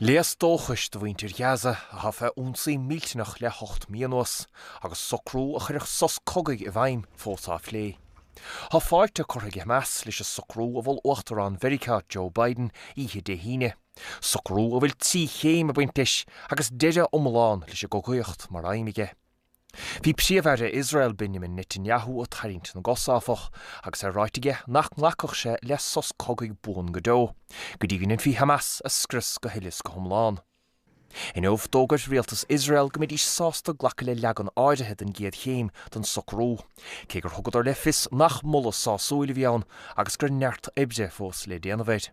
Léas dóchais do mhuintir Ghaza atá fé ionsaí millteanach le hocht mí anuas, agus socrú a chuirfeadh sos cogaidh i bhfeidhm, fós á phlé. Tá fáilte curtha ag Hamas leis an socrú a mhol Uachtarán Mheiriceá Joe Biden oíche Dé hAoine, socrú a bhfuil trí chéim ag baint leis agus deireadh iomlán leis an gcogaíocht mar aidhm aige. Bhí Príomh-Aire Iosrael Benjamin Netanyahu ag tarraingt na gcos, áfach, agus é ráite aige nach nglacfadh sé le sos cogaidh buan go deo, go dtí go ndéanfaí Hamas a scrios go huile is go hiomlán. Inniu, d'fhógair rialtas Iosrael go mbeidís sásta glacadh le leagan áirithe den gcéad chéim den socrú, cé gur thugadar le fios nach moladh sásúil a bhí ann agus go bhfuil neart oibre fós le déanamh air.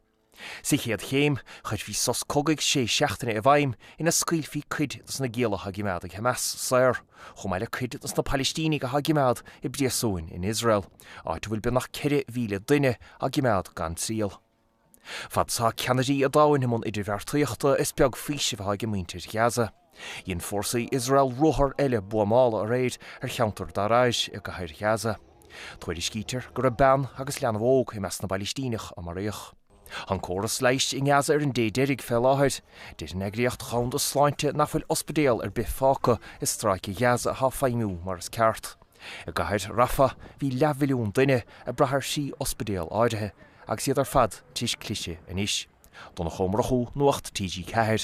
Sa chéad chéim, chuirfí sos cogaidh sé seachtaine i bhfeidhm ina scaoilfí cuid dos na gialla atá á gcoimeád ag Hamas saor, chomh maith le cuid dos na Palaistínigh atá á gcoimeád i bpríosúin in Iosrael, áit a bhfuil beagnach 4,000 duine á gcoimeád gan triail. Fad is atá ceannairí an domhain i mbun idirbheartaíochta, is beag faoisimh atá ag muintir Ghaza. Dhein fórsaí Iosrael ruathar eile buamála aréir ar cheantar Dara'ij i gCathair Ghaza. Tuairiscítear go raibh bean agus leanbh óg i measc na bPalaistíneach a maraíodh. Tá an córas leighis i nGaza ar an dé deiridh fé láthair. Deir an Eagraíocht Dhomhanda Sláinte nach bhfuil ospidéal ar bith fágtha i Stráice Ghaza atá ag feidhmiú mar is ceart. I gCathair Rafah bhí leathmhilliún duine ag brath ar thrí ospidéal áirithe agus iad ar fad tar éis cliseadh anois. Donncha Ó Murchú, Nuacht TG4.